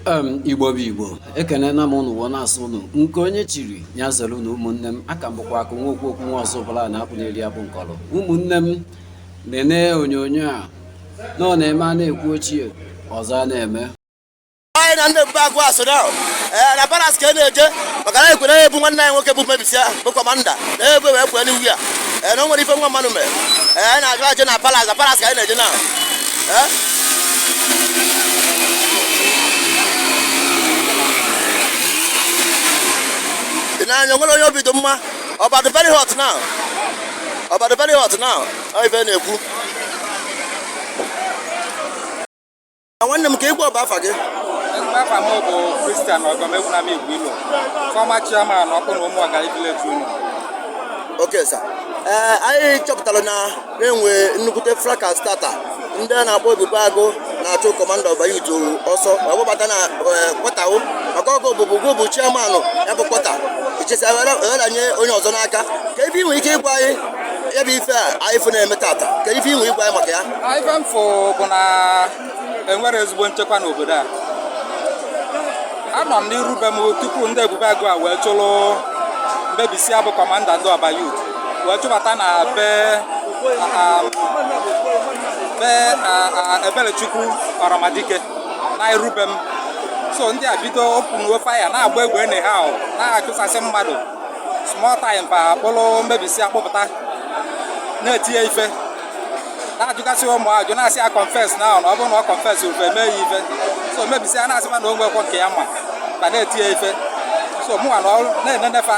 um igbo bụ igbo ekenena m ụnụ wọ na-asụ ụnụ nke onye chiri ya zere ụnụ ụmụnne m a ka m bụkwa akụ nwa okwu okwu nwa ọzọ bụla na akwụ na-eri abụ nkọrọ ụmụnne m na-ene onyonyo a na ọ na-eme a na-ekwu ochie ọzọ a na-eme anyị na ndị ebube agụ a so na ee na palace ka a na-eje maka na ekwere ebu nwanne anyị nwoke bụ mebisi ahụ bụ commander na egbe wee kwee n'iwu ya ee na o nwere ife nwa mmanụ mere ee na-aga eje na palace na palace ka anyị na-eje na ị na-anya nwere onye obi dị mma Ọba dị very hot now Ọba dị very hot now ọ ife na-ekwu nwanne m ka ị gwa Ọba afa gị afa m bụ Christian Ọgọegbunam Igwilo, former chairman Ọkpụnọ Ụmụọgalị village union. okay sir ee anyị chọpụtara na na-enwe nnukwute fracas tata ndị a na-akpọ ebube agụ na-achụ commander Ọba youth ọsọ ma gbabata na quarter o maka ọ gị bụbu gị bụ chairman ya bụ quarter ị chịsịa wee ranye onye ọzọ n'aka kee ife ị nwere ike ịgwa anyị ya bụ ife a anyị fụ na-eme tata kee ife ị nwere ịgwa anyị maka ya enwere ezigbo nchekwa n'obodo a anọ m n'iru be m tupu ndị ebube agụ a wee chụrụ mebisi a bụ commander ndị Ọba youth wee chụbata na be um, be ebelechukwu ọramadike na iru be m so ndị a bido openuo fire na-agba egbe enu ha na-achụsasị mmadụ small time fa akpụrụ mebisi akpụpụta na-eti ya ife na-ajụgasị ụmụ ajụjụ na-asị ya confess na ahụ na ọ bụrụ na ọ confessrọ fa eme ya ife so mebisi a na-asịkwa na o nwekwa nke ya ma ka na-eti ya ife so mụnwa nọrọ na-enene fa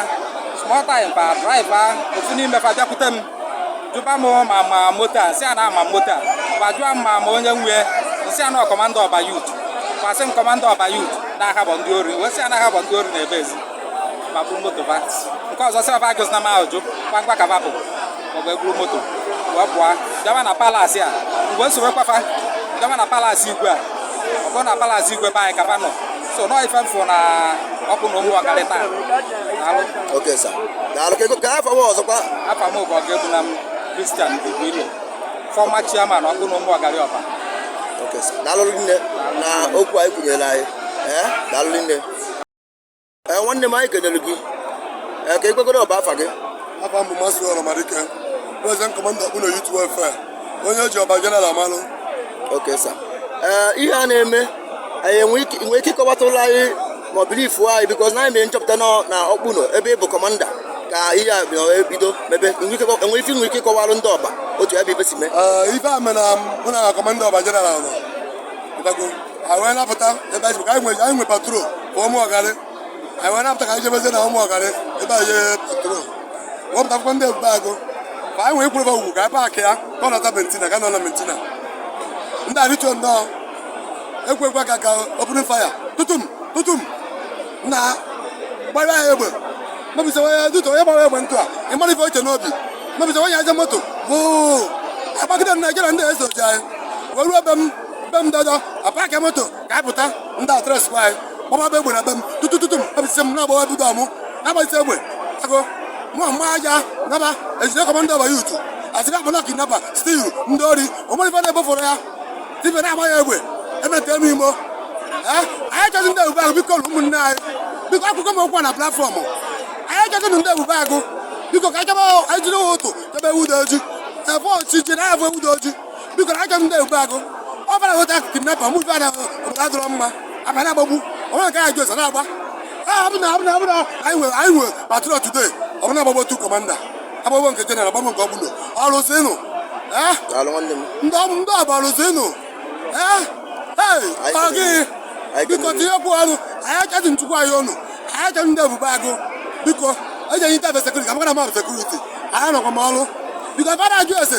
small time fa driver ofu n'ime fa bịakwute m jụba m ma m ma moto a m sị a na ama m moto a ma jụọ m ma m ma onye nwe m sị a na commander Ọba youth kwasị m commander Ọba youth na ha bụ ndị ori wee sị a na ha bụ ndị ori na-ebe ezi ma bụ moto va nke ọzọ sị ọba ajụzina m ajụjụ kwa ngwa ka va bụ wee buru moto wee pụọ bịawa na palace a m wee sobekwa fa bịawa na palace igwe a ọ bụrụ na palace igwe be anyị ka fa nọ so nọ ife m fụ na Ọkpụnọ Ụmụọgalị taa daalụ okay sir daalụ ka ị gwakwa afa gị ọzọkwa afa m bụ Ọgọegbunam Christian Igwilo former chairman Ọkpụnọ Ụmụọgalị Ọba okay sir daalụ rinne na okwu a ị kwunyere anyị ee daalụ rinne ee eh, nwanne m anyị kenere gị ee eh, ka ị gwagodo Ọba afa gị afa m bụ Mazị Ọramadike president commander Ọkpụnọ youth efe onye ji Ọba general amalụ okay sir ee eh, ihe a na-eme ị nwee ike ịkọwatalụ anyị ma ọ bụrụ ife anyị because na anyị mere nchọpụta na Ọkpụnọ ebe ị bụ commander ka ihe a ebido mebe enwere ife ị nwere ike ịkọwalụ ndị Ọba otu ebe ife si mee ife a mere na commander Ọba general nọ anyị wee napụta ebe anyị ka anyị nwere anyị nwere patrol ka Ụmụọgalị anyị wee napụta ka anyị jebezie na Ụmụọgalị ebe anyị jee patrol wee pụta akwụkwọ ndị ebube agụ ka anyị wee kwurebe ugwu ka anyị paakị ya ka ọ nọta bentina ka nọ na bentina ndị a arịtuo nnọọ ekwekwa ka ka opening fire tutum tutum na-agba anyị egbe mebisa onye dutu onye gbara egbe ntụ a ị mara ife o che n'obi mebisa onye aja moto bụ agbagide m na jere ndị eso ji anyị wee ruo ebe m be m dada apaka moto ka anyị pụta ndị a trace kwa anyị gbababe egbe na be m tutu tutu m abịsị m na-agbawa bido amụ na-agbazite egbe agụ mụ mma aja naba ejide kọmanda Ọba yutu asịrị akpọnọ kidnapa stil ndị ori o nwere ife na-ebofọrọ ya ife na-agba ya egbe emete m imo Eh, anyị achọzi ndị ebube agụ biko ụmụnne anyị biko ekwukwa m okwu a na platfọm anyị achọzi ndị ebube agụ biko ka anyị chọba anyị jiri ụtụtụ chọba ewu dị oji ebe ọchịchị na-abụ ewu dị oji biko na aka m ndị ebube agụ ọ bara nweta akụkụ nnepa mụ bịara obodo adọrọ mma abịa na-agbagbu onye nke anyị ji ụzọ na-agba abụna abụna abụna anyị nwere anyị nwere patrol today ọ bụ na agbagbuo tu kọmanda agbagbuo nke jeneral agbagbuo nke ọbụla ọrụzinụ eh? Daalụ nwanne m. ndị ọbụ ndị ọbụ ọrụzinụ eh? Hey, Anyị ọ gị anyị biko kelere. tinyekwu ọnụ anyị achọghị nchukwu anyị ọnụ anyị achọghị ndị ebube agụ biko eji anyị ntafe sekuriti ka m gara mmadụ sekuriti anyị nọkwa m ọrụ biko fada ajụ ese